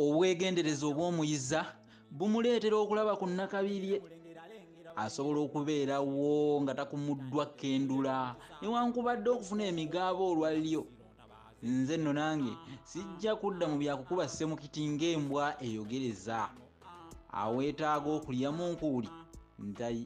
obwegendereza obw'omuyiza bumuleetera okulaba ku nnakabirye asobola okubeerawo nga takumuddwa kendula newankubadde okufuna emigaabo olwalyo nze nno nange sijja kudda mu byakukuba ssemukiti ng'embwa eyogereza aweetaaga okulyamu nkuuli ntayi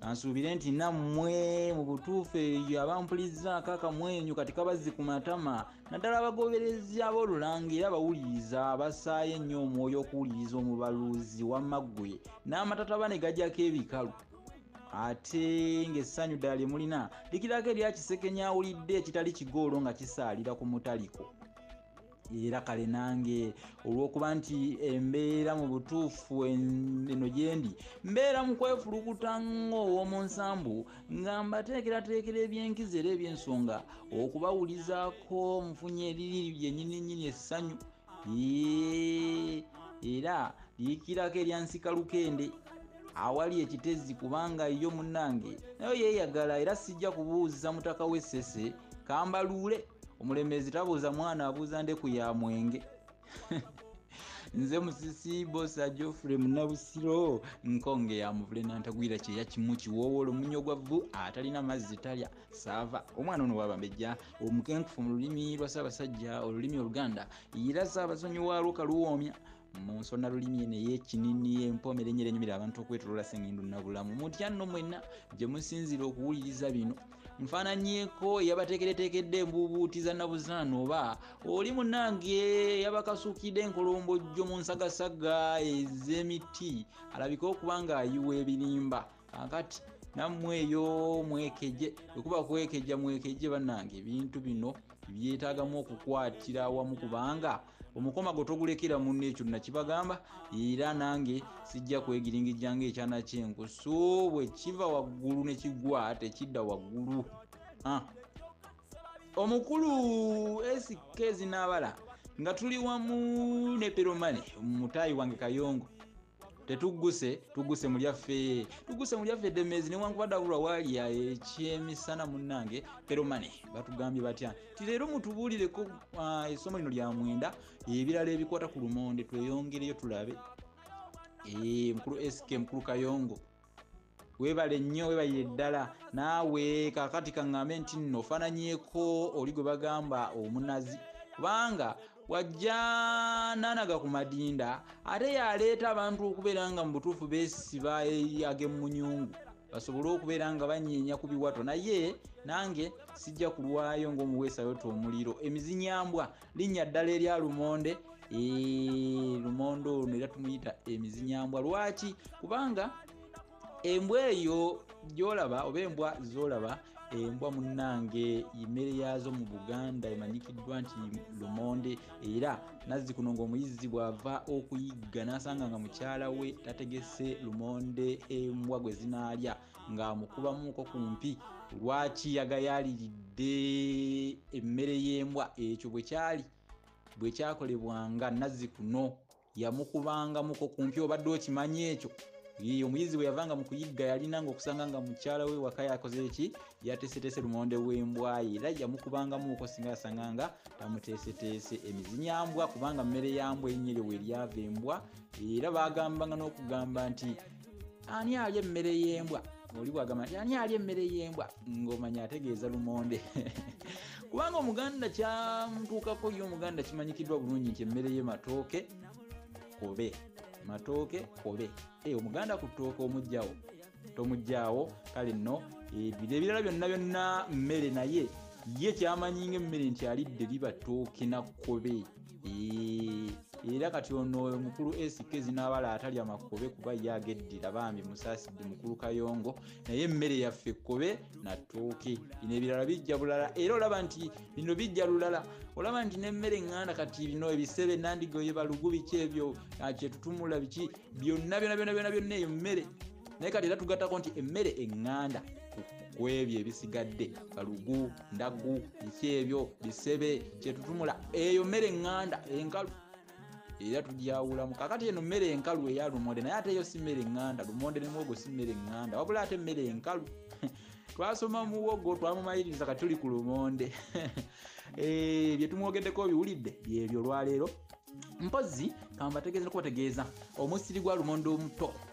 kansuubire nti nammwe mu butuufu eyo abampulizzaako akamwenyu kati kabazzi ku matama naddala abagoberezi ab'olulangira abawuliriza abasaayo ennyo omwoyo okuwuliriza omubaluzi wamma ggwe n'amatataba ne gajako ebikalu ate ng'essanyu ddala lye mulina likirako erya kisekenya awulidde ekitali kigoolo nga kisaalira ku mutaliko era kale nange olwokuba nti embeera mu butuufu eno gyendi mbeera mu kwefulukuta ng'ow'omu nsambu nga mbateekerateekera ebyenkizo era ebyensonga okubawulizaako nfunye eriri lyenyininyini essanyu era liikirako erya nsikalukende awali ekitezi kubanga yo munnange nayo yeeyagala era sijja kubuuza mutaka w'essese kambaluule omulemezi tabuuza mwana abuuza ndeku ya mwenge nze musisi bosa geoffrey munabusiro nkonge ya muvule nantagwira kyeya kimu kiwoowola omunya ogwa vvu atalina mazzi talya saava omwana ono wabambejja omukenkufu mu lulimi lwa ssaabasajja olulimi oluganda era ssaabasonyi waalwo kaluwoomya mu nsonda lulimi eno ey'ekinini empomera enyera enyumira abantu okwetolola sengindu nabulamu mutya nno mwenna gye musinzira okuwuliriza bino nfaananyeko eyabateekereteekedde embuubuuti za nabuzaana oba oli munange yabakasuukidde enkolombojjo mu nsagasaga ez'emiti alabike okuba ng'ayiwa ebirimba kakati nammwe eyo mwekeje ekuba kwekeja mwekeje bannange ebintu bino byetagamu okukwatira awamu kubanga omukoma gwe togulekera munno ekyo nakibagamba era nange sijja kwegiringijjanga ekyana kyenku so bwe kiva waggulu ne kigwa tekidda waggulu ah. omukulu sk zinaabala nga tuli wamu ne peromane mutayi wange kayongo tetugguse tugguse mu lyaffe tugguse mu lyaffe demezi newankubadde abulwa waali ekyemisana munnange peromane batugambye batya ti leero mutubuulireko ah, essomo lino lya mwenda ebirala ebikwata ku lumonde tweyongereyo tulabe eh, mukulu sk mukulu kayongo webale nnyo webalire ddala naawe kakati kaŋŋambe nti nno ofaananyeko oli gwe bagamba omunazi kubanga wajja nanaga ku madinda ate yaleeta abantu okubeera nga mu butuufu besiba ag'emunyungu basobole okubeera nga banyeenya ku biwato naye nange sijja kulwayo ng'omuweesayota omuliro emizinyambwa linnya ddala erya lumonde lumonde ono era tumuyita emizinyambwa lwaki kubanga embwa eyo gyolaba oba embwa zolaba embwa munange imere yaazo mu buganda emanyikiddwa nti lumonde era nazzi kuno ngaomuyizzi bwava okuyigga nasanga nga mukyala we tategese lumonde embwa gwe zinaalya ngaamukubamuuko ku mpi lwaki yagayaliridde emmere y'embwa ekyo bwe kyali bwe kyakolebwanga nazzi kuno yamukubanga muko kumpi obadde okimanyi ekyo ye omuyizi bwe yavanga mu kuyigga yalina nga okusanga nga mukyala we waka yakoze eki yateeseteese lumonde w'embwayi era yamukubangamuuko singa yasanga nga tamuteeseteese emizinyambwa kubanga mmere yambwa erinnya eryo we lyava embwa era baagambanga n'okugamba nti ani alya emmere y'embwa oli bwagamba nti ani alya emmere y'embwa ng'omanya ategeeza lumonde kubanga omuganda kyamutuukako ye omuganda kimanyikiddwa bulungi nti emmere ye matooke kobe matooke kobe eh, omuganda ku ttooke omugjawo tomugjawo kale nno ebiro ebirala byonna byonna mmere naye ye kyamanyi nga emmere nti alidde liba tooke na kobe era kati ono oyo mukulu sk zinaabala atalya makobe kuba ye ageddira bambi musaasidde mukulu kayongo naye emmere yaffe kobe natooke bino ebirala bijja bulala era olaba nti bino bijja lulala olaba nti nemmere eŋŋanda kati bino ebisebe nandigoye balugu biki ebyo ah, kyetutumula biki byonna byona byona byona byonna eyo mmere naye kati era tugattako nti emmere eŋŋanda ku ebyo ebisigadde kalugu ndagu biki ebyo bisebe kyetutumula eyo mmere eŋŋanda enkalu era tugyawulamu kakati eno mmere enkalu eya lumonde naye ate eyo si mmere eŋŋanda lumonde ne muwogo si mmere eŋŋanda wabula ate mmere enkalu twasoma muwogo twamumaliriza kati tuli ku lumonde eh, bye tumwogeddeko obiwulidde byebyo olwaleero mpozzi kambategeeza nokubategeeza omusiri gwa lumonde omuto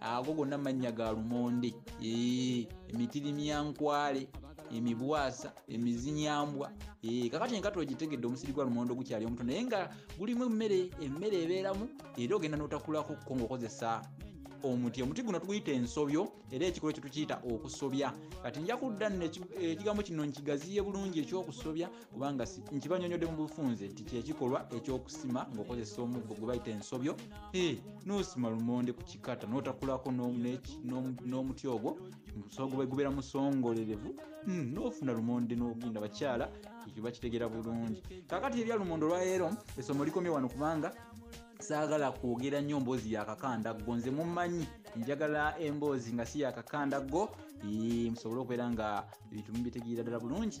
ago gonna mannya ga lumonde emitirimyankwale emibwasa emizinyambwa kakati enkata ogitegedde omusiri gwa lumonde ogukyali omuto naye nga gulimu emmere emmere ebeeramu era ogenda notakulako ko ngaokozesa omuti omuti guno tuguyita ensobyo era ekikolo ekyo tukiyita okusobya kati nja kudda nno ekigambo kino nkigaziye bulungi ekyokusobya kubanga nkibanyonyodde mu bufunze nti kyekikolwa ekyokusima ngaokozesa omuggo gwe bayita ensobyo nosima lumonde ku kikata notakulako n'omuti ogwo musogo bwegubeera musongolerevu hmm, nofuna lumonde nogenda bakyala ekyo bakitegera bulungi kakati ebya lumonde olwaleero esomo likomye wano kubanga saagala kwogera nnyo mboozi yakakandaggo nze mumanyi njagala emboozi nga si yakakandaggo musobole okubeera nga ebintu mubitegeera ddala bulungi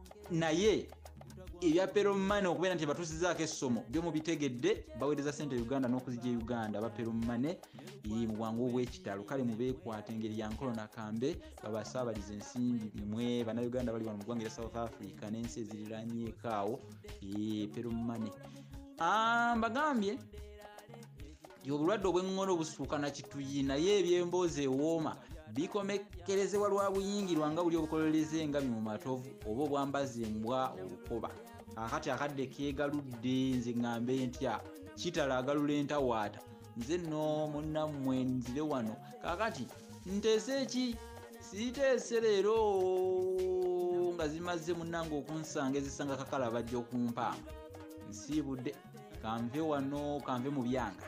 naye ebya peromane okubeera nti batusizaako essomo byo mubitegedde baweereza sente uganda n'okuzija e uganda aba peromane ye mu bwangu obw'ekitalo kale mubeekwata engeri ya nkolo nakambe babasaabaliza ensimbi bimwe bannayuganda bali wano mu ggwanga era south africa n'ensi eziriranyeekaawo ye peromane ah, mbagambye obulwadde obweng'ono obusuuka na kituyi naye ebyemboozi ewooma bikomekkerezebwa lwa buyingirwa nga buli obukolereza engabi mu matovu oba obwambazi embwa olukoba akati akadde keegaludde nze ŋŋambe ntya kitala agalula entawaata nze nno munnammwe nzire wano kaakati nteese ki siiteese leero nga zimaze munange okunsanga ezisanga kakala bajja okumpaamu nsiibudde kanve wano kanve mu byanga